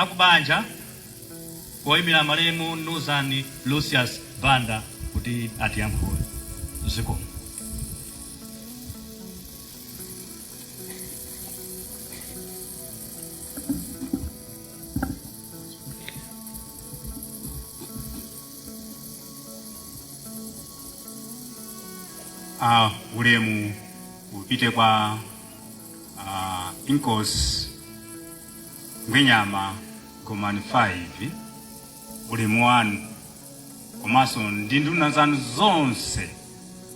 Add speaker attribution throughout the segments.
Speaker 1: akubanja koyimira malemu Nduzani Lucius Banda kuti atiyankhule zikomo
Speaker 2: a ulemu upite kwa a inkosi ngwenyama gomani 5 ulemu wanu komanso ndi nduna zanu zonse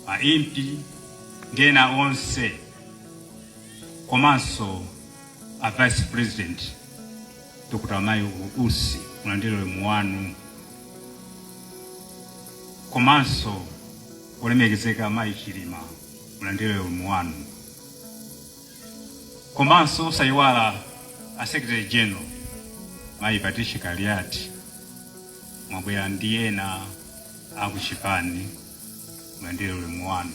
Speaker 2: a impi ndi ena onse komanso a vice president Dr. Michael Usi mulandire ulemu wanu komanso olemekezeka Mayi Chilima mulandire ulemu wanu komanso osayiwala a Secretary General Mayi Patricia Kaliati mwabwera ndi ena akuchipani mulandire ulemu wanu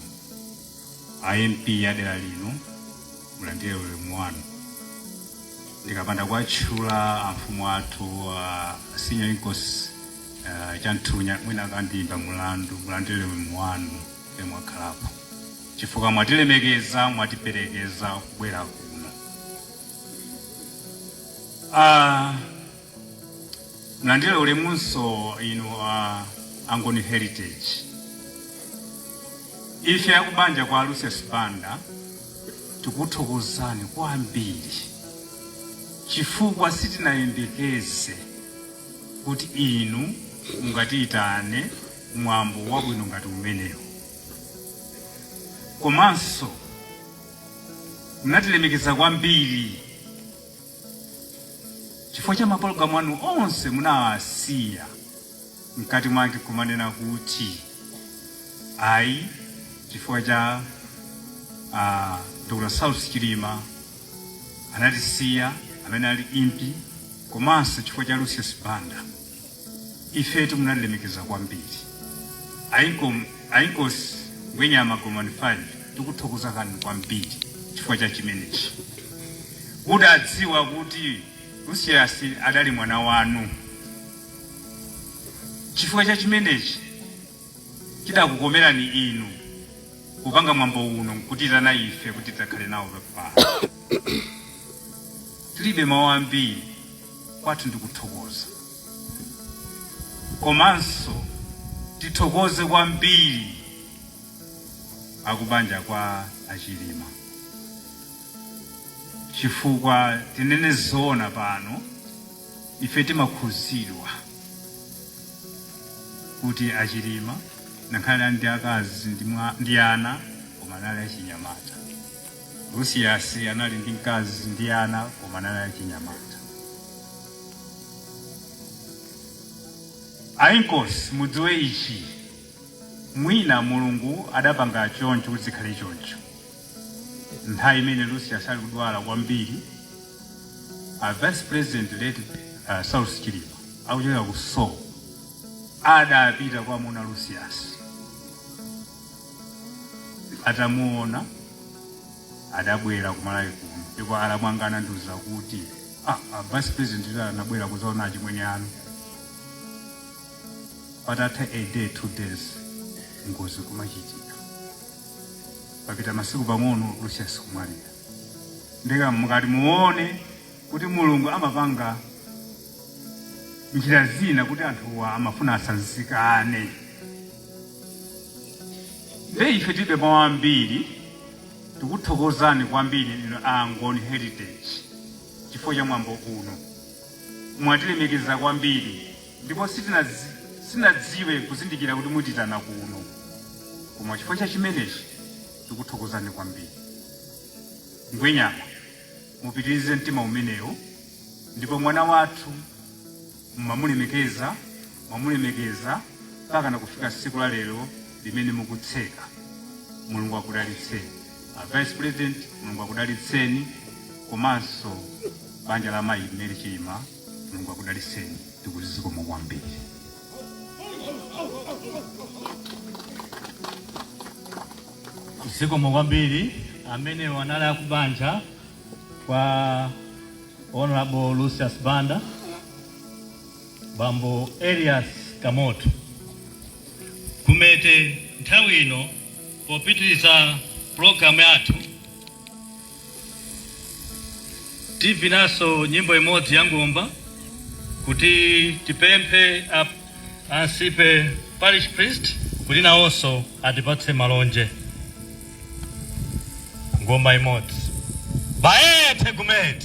Speaker 2: A MP a dera lino mulandire ulemu wanu. Ndikapanda kuwatchula amfumu athu a Senior Inkosi uh, Chanthunya mwina akandiimba mulandu. Mulandire ulemu wanu kuti mwakhalapo chifukwa mwatilemekeza, mwatiperekeza kubwera kuno. Ah, Mulandile ulemunso inu a Angoni Heritage. Ife akubanja kwa Lucius Banda tikukuthokozani kwambiri chifukwa sitinayembekeze kuti inu mungatiyitane mwambo wabwino ngati umenewu. Komanso munatilemekeza kwambiri. Chifukwa cha mapologalamu anu onse munawasiya mkati mwake kumanena kuti ayi chifukwa cha ah, Dr. Saulos Chilima anatisiya amene ali impi komanso chifukwa cha Lucius Banda. ifetu munatilemekeza kwambiri a inko a inkosi ngwenyama gomani 5 tikuthokozani kwambiri chifukwa cha chimenechi mudadziwa kuti lucius adali mwana wanu chifukwa cha chimenechi chidakukomerani inu kupanga mwambo uno nkutiitana ife kuti tidzakhale nawo pano tilibe mawu ambiri kwathu ndikuthokoza Komanso tithokoze kwambiri akubanja kwa a Chilima chifukwa tinene zoona pano ife timakhuzidwa kuti a Chilima ngakhale ali ndi akazi ndi ana koma anali achinyamata. Lucius anali ndi mkazi ndi ana koma anali achinyamata. A Inkosi mudziwe ichi mwina mulungu adapanga choncho kuti zikhale choncho nthawi imene lucius ali kudwala kwambiri a vice president late uh, saulos chilima akuchokera ku seoul adapita kukamuona lucius atamuona adabwera kumalawi kuno ndipo alamu anga anandiuza kuti ah, a vice president lero anabwera kuzaona achimwene anu patatha a day two days ngozi kumachitika papita masiku pang'ono lucius kumwalira ndiye kuti mukati muone kuti mulungu amapanga njira zina kuti anthuwa amafuna asanzikane nde ife tilibe mawu ambiri Tikuthokozani kwambiri inu a Angoni Heritage chifukwa cha mwambo uno. Mwatilemekeza kwambiri ndipo sitinadziwe kuzindikira kuti mutiitana kuno. Koma chifukwa cha chimenechi tikuthokozani kwambiri. Ngwenyama, mupitirize mtima umenewo ndipo mwana wathu mumamulemekeza, mwamulemekeza mpakana kufika siku la lero limene mukutseka. Mulungu akudalitseni. A Vice President, Mulungu akudalitseni komanso banja la mayi Mary Chilima, Mulungu akudalitseni tikuti zikomo
Speaker 1: kwambiri. zikomo kwambiri amenewo anali akubanja kwa Hon. Lucius Banda, Bambo Elias Kamoto. Gumete nthawi ino popitiriza pulogalamu yathu tivinanso nyimbo imodzi ya ngoma kuti tipemphe ansembe parish priest kuti nawonso atipatse malonje. ngoma imodzi bae tegument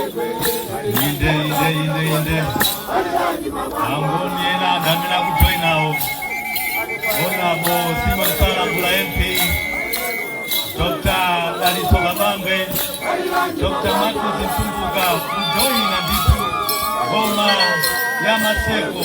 Speaker 1: inde inde inde inde angoni ena anthu amene akujoinawo onapo simasalambula mp dr dalitso kabambe dr matthews mtumbuka kujoina ndithu ngoma ya maseko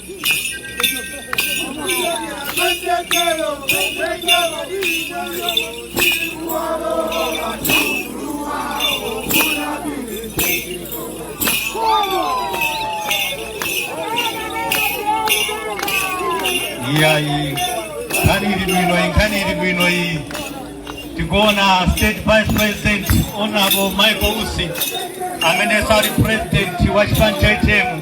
Speaker 1: iyayi nkhani ili bwino iyi nkhani ili bwino iyi tikuona State vice president honorable michael usi amene sali president wa chipani cha utm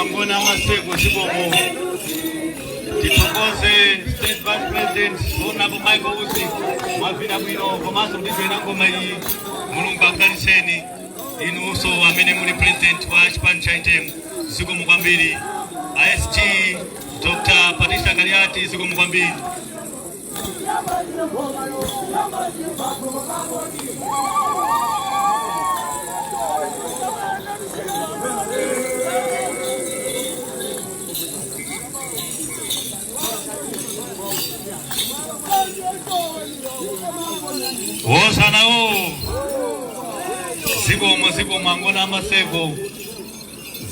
Speaker 1: Angoni a Maseko zikomo tithokoze state vice president honorable Michael Usi mwavina bwino komanso mudzivina ngoma iyi mulungu akudalitseni inunso amene muli president wa chipani cha UTM zikomo kwambiri a SG dr patricia kaliati zikomo kwambiri wosanawo zikomo zikomo angoni a maseko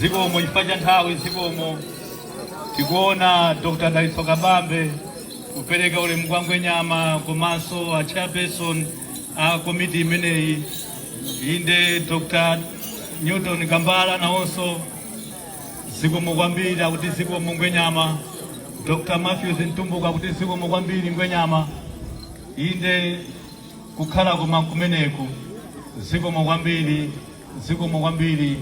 Speaker 1: zikomo chifukwa cha nthawi zikomo tikuona dr dalitso kabambe kupereka ulemu kwa Ngwenyama komanso a chairperson a komiti imeneyi inde Dr. Newton Kambala nawonso zikomo kwambiri akuti zikomo Ngwenyama Dr. Matthews Mtumbuka akuti zikomo kwambiri Ngwenyama inde kukhala koma kumeneku zikomo kwambiri zikomo kwambiri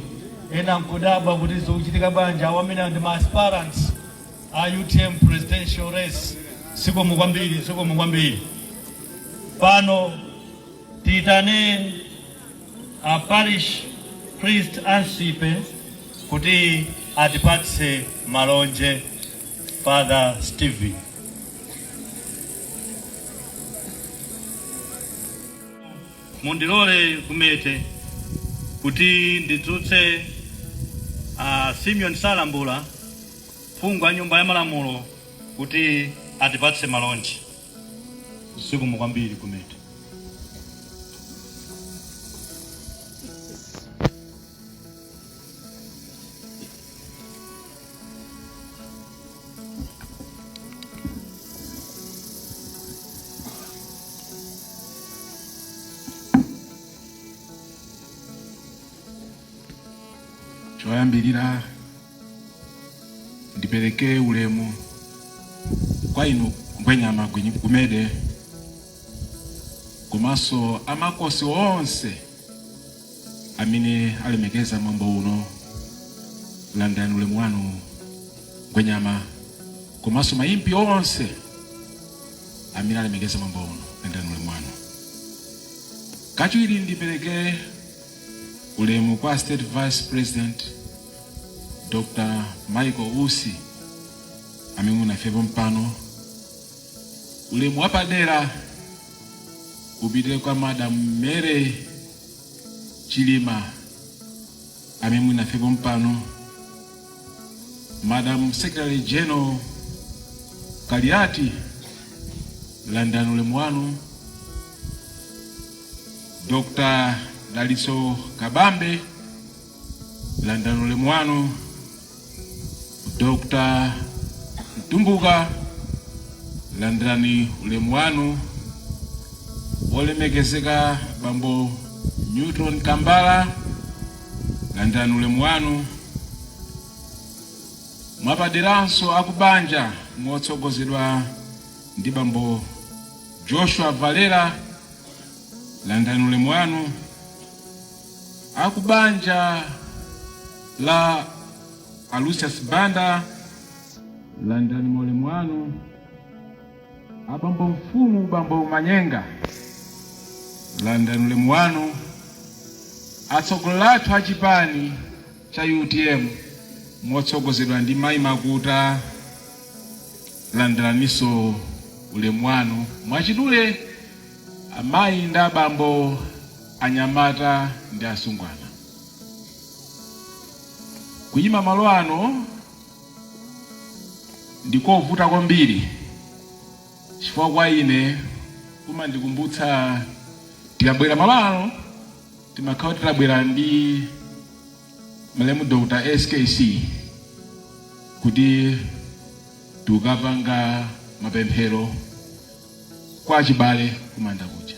Speaker 1: ena nkudabwa kuti zochitika bwanji awa amene ndi ma aspirants a utm presidential race zikomo kwambiri zikomo kwambiri pano tiyitane a parish priest a nsipe kuti atipatse malonje father stephen Mundilole Gumede kuti ndidzutse a Simeon Salambula, phungu wa nyumba ya malamulo kuti atipatse malonje. Zikomo kwambiri Gumede.
Speaker 3: choyambirira ndipereke ulemu kwa inu ngwenyama Gwi- gumede komanso amakosi onse amene alemekeza mwambo uno landani ulemu wanu Ngwenyama komanso ma Impi onse amene alemekeza mwambo uno landani ulemu wanu kachiwiri ndipereke ulemu kwa state vice president dr michael usi amene muli nafe pompano ulemu wapadera upite kwa madam mary Chilima amene muli nafe pompano, Madam Secretary General Kaliati, landani ulemu wanu. Dr. Daliso Kabambe landirani ulemu wanu dr mtumbuka landirani ulemu wanu wolemekezeka bambo newton kambala landirani ulemu wanu mwapaderanso akubanja motsogozedwa ndi bambo joshua valera landirani ulemu wanu Akubanja la a Lucius Banda landirani maulemu anu. Abambo mfumu bambo Manyenga landirani ulemu wanu. Atsogoleri athu a chipani cha utm motsogozedwa ndi Mayi Makuta landiraninso ulemu wanu. Mwachidule amayi ndi abambo anyamata ndi asungwana kuyima malo ano ndikovuta kwambiri chifukwa kwa ine kumandikumbutsa tikabwera malo ano timakhala titabwera ndi malemu Dr. SKC kuti tikapanga mapemphero kwa achibale kumanda kuja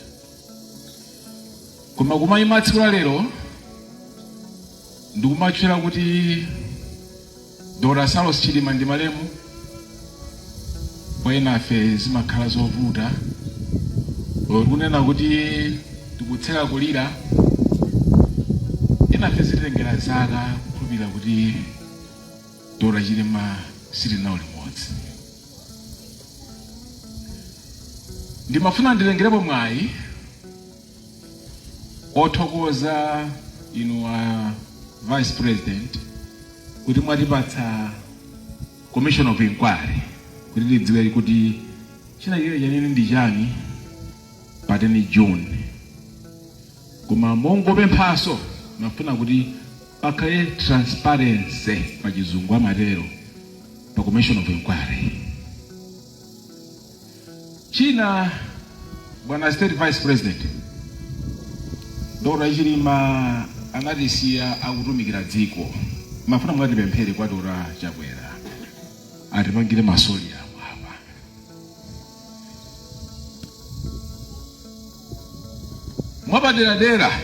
Speaker 3: koma kumayima tsiku la lero ndikumatchula kuti dr saulos chilima ndi malemu kwa enafe zimakhala zovuta olo kunena kuti tikutseka kulira enafe zitengera zaka kukhulupirira kuti dr chilima sitili nawo limodzi Ndimafuna nditengerepo mwayi othokoza inu a Vice President kuti mwatipatsa Commission of Inquiry kuti tidziwe kuti chinachitike chanene ndi chani pa 10 June. Koma mongopemphaso mafuna kuti Pakhale transparency pachizungu amatero pa commission of inquiry. China bwana state vice president Dora Chilima anatisiya akutumikira dziko mafuna mukatipemphere kwa Dr. Chakwera atipangire mausoleum apa Mwapaderadera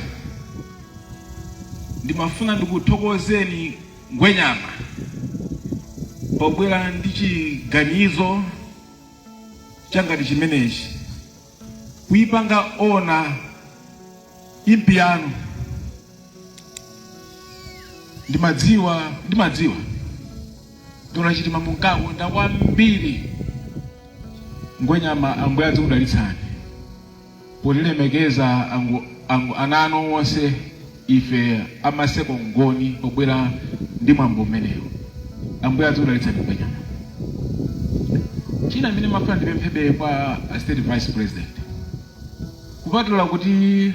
Speaker 3: ndimafuna ndikuthokozeni Ngwenyama pobwera ndi chiganizo chongati chimenechi kuipanga ona impi yanu ndimadziwa ndimadziwa Dr. Chilima munkakonda kwambiri Ngwenyama Ambuye adzikudalitsani potilemekeza ango, ango, ana anu onse ife amaseko ngoni pobwera ndi mwambo umenewo Ambuye adzikudalitsani Ngwenyama china chimene mafuna ndipemphebe kwa a state vice president kupatula kuti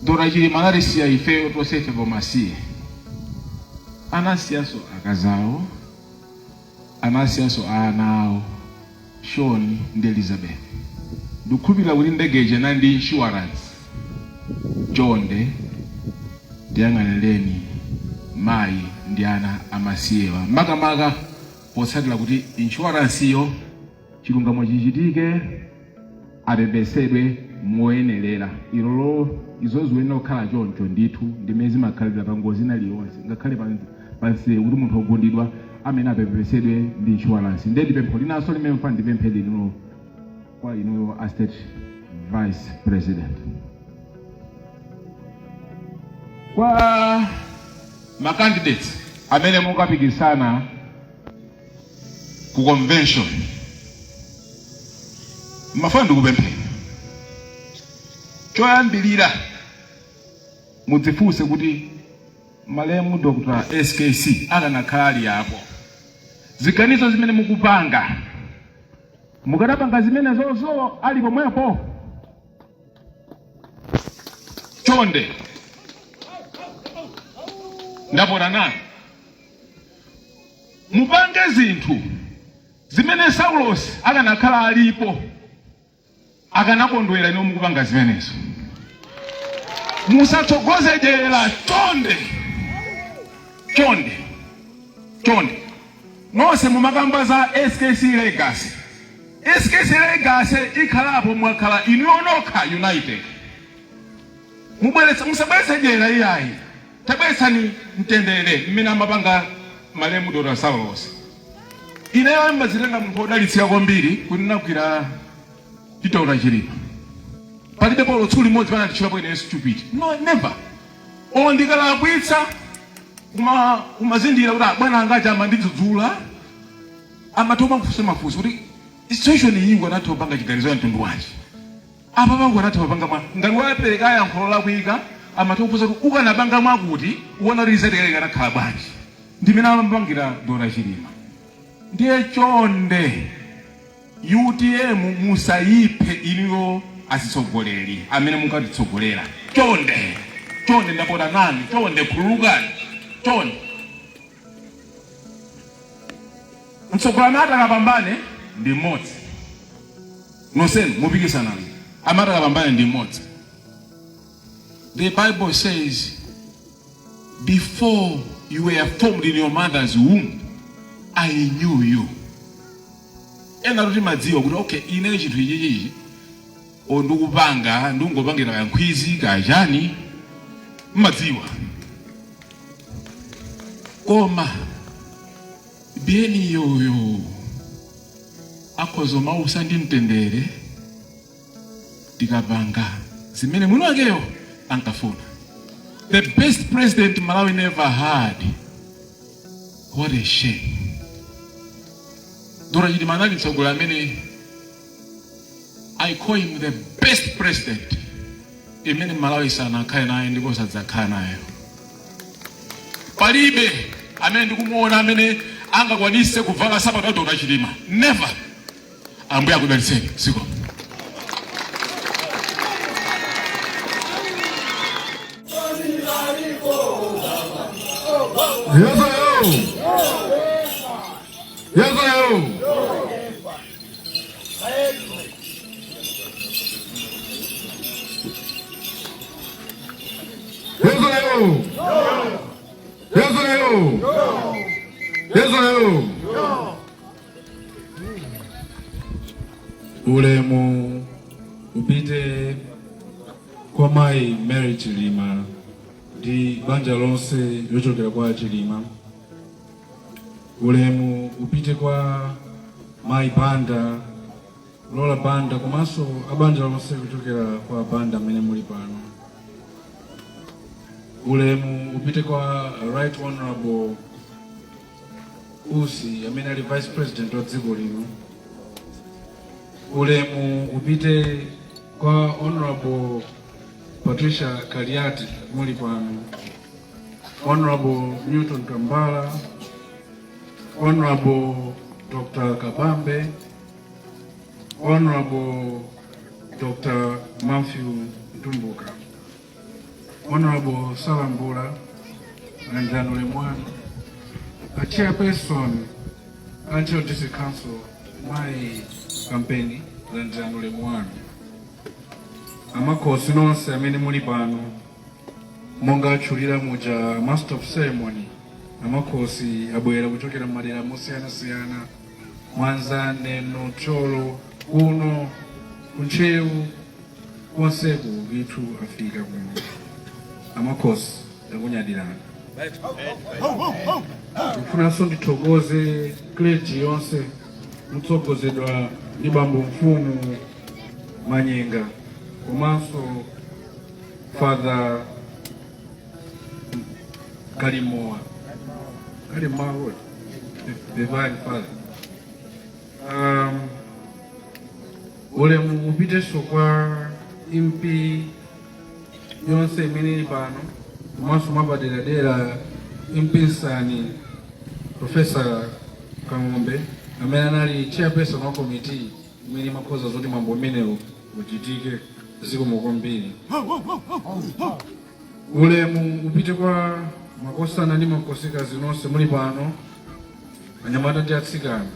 Speaker 3: Dr. Chilima anatisiya ifeyo tonse ife pomasiye, anasiyanso akazi awo, anasiyanso ana awo Sean ndi Elizabeth. Ndikukhulupirira kuti ndege ija inali ndi insurance. Chonde ndiyang'anireni mayi ndi ana amasiyewa, makamaka potsatira kuti insurance-yo chilungamo chichitike apepesedwe moyenerera inde izo zikuyenera kukhala choncho ndithu ndimene zimakhalira pa ngozi ina iliyonse ngakhale pa- pansewu kuti munthu ogundidwa amayenera apepesedwe ndi inshuwalansi ndiye ndipempho linanso limene mafuna ndipemphe lilinso kwa inuyo a state vice president kwa macandidates amene mukapikisana ku convention mafuna ndikupempheni choyambirira mudzifunse kuti malemu dr skc akanakhala ali apo ziganizo zimene mukupanga mukadapanga zimenezozo ali pomwepo chonde ndapota nanu Mupange zinthu zimene Saulosi akanakhala alipo akanakondwera inuyo mukupanga zimenezo. Musatsogoze dyera chonde, chonde, chonde. Nonse mumakamba za SKC Legacy. SKC Legacy ikhalapo mwakhala inu nokha united. musabweretse dyera iyayi. Tabweletsani mtendele mmene amapanga malemu Dr Saulos. Ineyo ndimadzitenga munthu odalitsika kwambiri kuti ndinagwira ndi Dr Chilima. Palibepo olo tsiku limodzi pamene ananditchulapo ineyo stupid. No, never. Olo ndikalakwitsa ndimazindikira kuti abwana anga aja amandidzudzula amatha kumandifunsa mafunso kuti situation iyi ukanatha kupanga chiganizo cha mtundu wanji. Apa ukanatha kupanga mwa. Ngati wapeleka yankho lolakwika, amatha kufunsa kuti ukanapanga mwakuti, uona kuti result yake ikanakhala bwanji. Ndimene amapangira Dr Chilima. Ndiye chonde UTM musayiphe inuyo atsogoleri amene munkatitsogolera. Chonde! Chonde! Ndapota nanu. Chonde! Khululukani. Chonde! mtsogoleri amene atakapambane ndi mmodzi nonsenu mupikisana amene atakapambane ndi mmodzi the bible says before you were formed in your mother's womb i knew you ena mumadziwa kuti okay ine chinthu ichichichi olo ndikupanga ndingopangira kankhwizi kachani mmadziwa koma Biyeniyo uyo akhoza kumausa ndi mtendere tikapanga zimene mwini wakeyo ankafuna the best president malawi never had what a shame dr chilima anali mtsogoleri amene I call him the best president imene Malawi sanakhale nayo ndipo sadzakhala nayo. Palibe amene ndikumuona amene angakwanise kuvala sapato ya Dr. Chilima. Never. Ambuye akudalitseni. Zikomo.
Speaker 4: Ulemu upite kwa mai Mary Chilima ndi banja lonse lochokera kwa Chilima. Ulemu upite kwa Mai Banda, Lola Banda komanso abanja lonse kuchokera kwa a Banda amene muli pano. Ulemu upite kwa Right Honorable Usi amene ali Vice President wa dziko lino. Ulemu upite kwa Honorable Patricia Kaliati muli pano. Honorable Newton Tambala, Honorable Dr. Kabambe, Honorable Dr. Matthew Dumbuka, Honorable Salambula and January 1, a chairperson, Ancho District Council, my campaign, and January 1. Amakosi nonse amene muli pano Monga atchulira muja a Master of Ceremony amakhosi abwera kuchokera mmadera mosiyanasiyana Mwanza, Neno, Thyolo kuno ku Ntcheu konseku ndithu afika kuno amakhosi takunyadirani ndikufunanso ndithokoze clergy yonse motsogozedwa ndi bambo mfumu Manyenga komanso Father Kalimoa. Kalimoa what? The divine father. Um, ulemu upiteso kwa impi yonse imene ili pano komanso mwapaderadera impi nsani profesa Kang'ombe amene anali chairperson wa komiti imene imakonza zoti mwambo umenewu uchitike. Zikomo kwambiri. Ulemu upite kwa makhosana ndi makhosikazi nonse muli pano, anyamata ndi atsikana,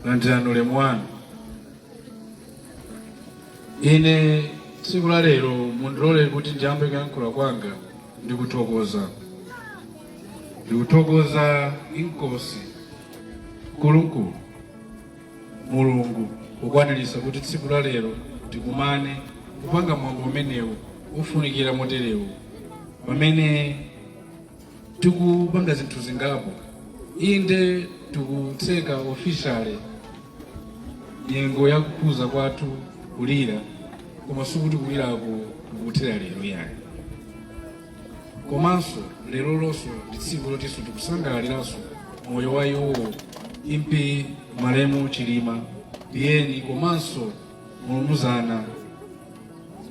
Speaker 4: landirani ulemu wanu. Ine tsiku la lero mundilole kuti ndiyambe kuyankhula kwanga ndi kuthokoza ndikuthokoza inkosi nkulunkulu Mulungu pokwaniritsa kuti tsiku la lero tikumane kupanga mwambo umenewu wofunikira moterewu pamene tikupanga zinthu zingapo inde tikutseka officially nyengo ya kukhuza kwathu kulira koma sikuti kuliraku kukuthera lero ayi komanso lero lonso ndi tsiku lotinso tikusangalaliranso moyo wa iwo impi malemu Chilima Biyeni komanso mulumuzana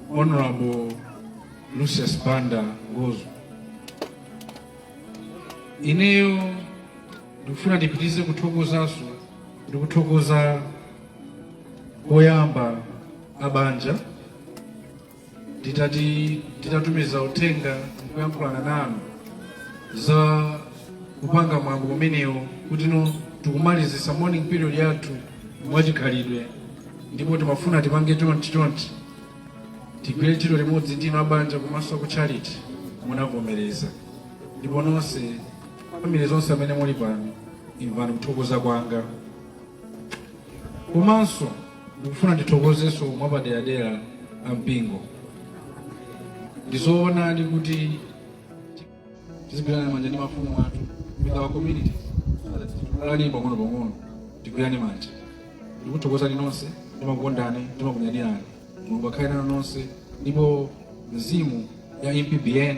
Speaker 4: Honorable Lucius Banda Ngozo ineyo ndikufuna ndipitize kuthokozanso ndikuthokoza koyamba abanja Titati titatumiza uthenga kuyankhulana nanu za kupanga mwambo umenewo kuti no tikumalizisa mourning period yathu mwachikhalidwe ndipo timafuna tipange chonchi chonchi tigwire ntchito limodzi ndinu abanja komanso aku tchalitchi munavomereza ndipo nonse family zonse amene muli pano imvani kuthokoza kwanga komanso ndikufuna ndithokozenso mwapaderadera ampingo ndizoonadi kuti tizigwirana manja ndi mafumu athu with our communities tikulani pang'ono pang'ono tigwirane manja ndikuthokozani nonse ndimakukondani ndimakunyadirani mulungu akhale nanu nonse ndipo mzimu ya mpbn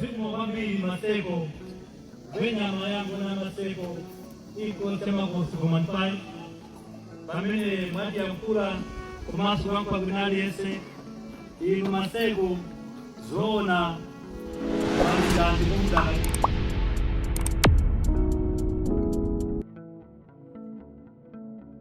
Speaker 1: Zikomo kwambiri Maseko. Ngwenyama ya Angoni a Maseko Inkosi ya Makhosi Gomani five pamene amatiyankhula komanso wampa bwino aliyense inu Maseko zoona malinga ndi kumdala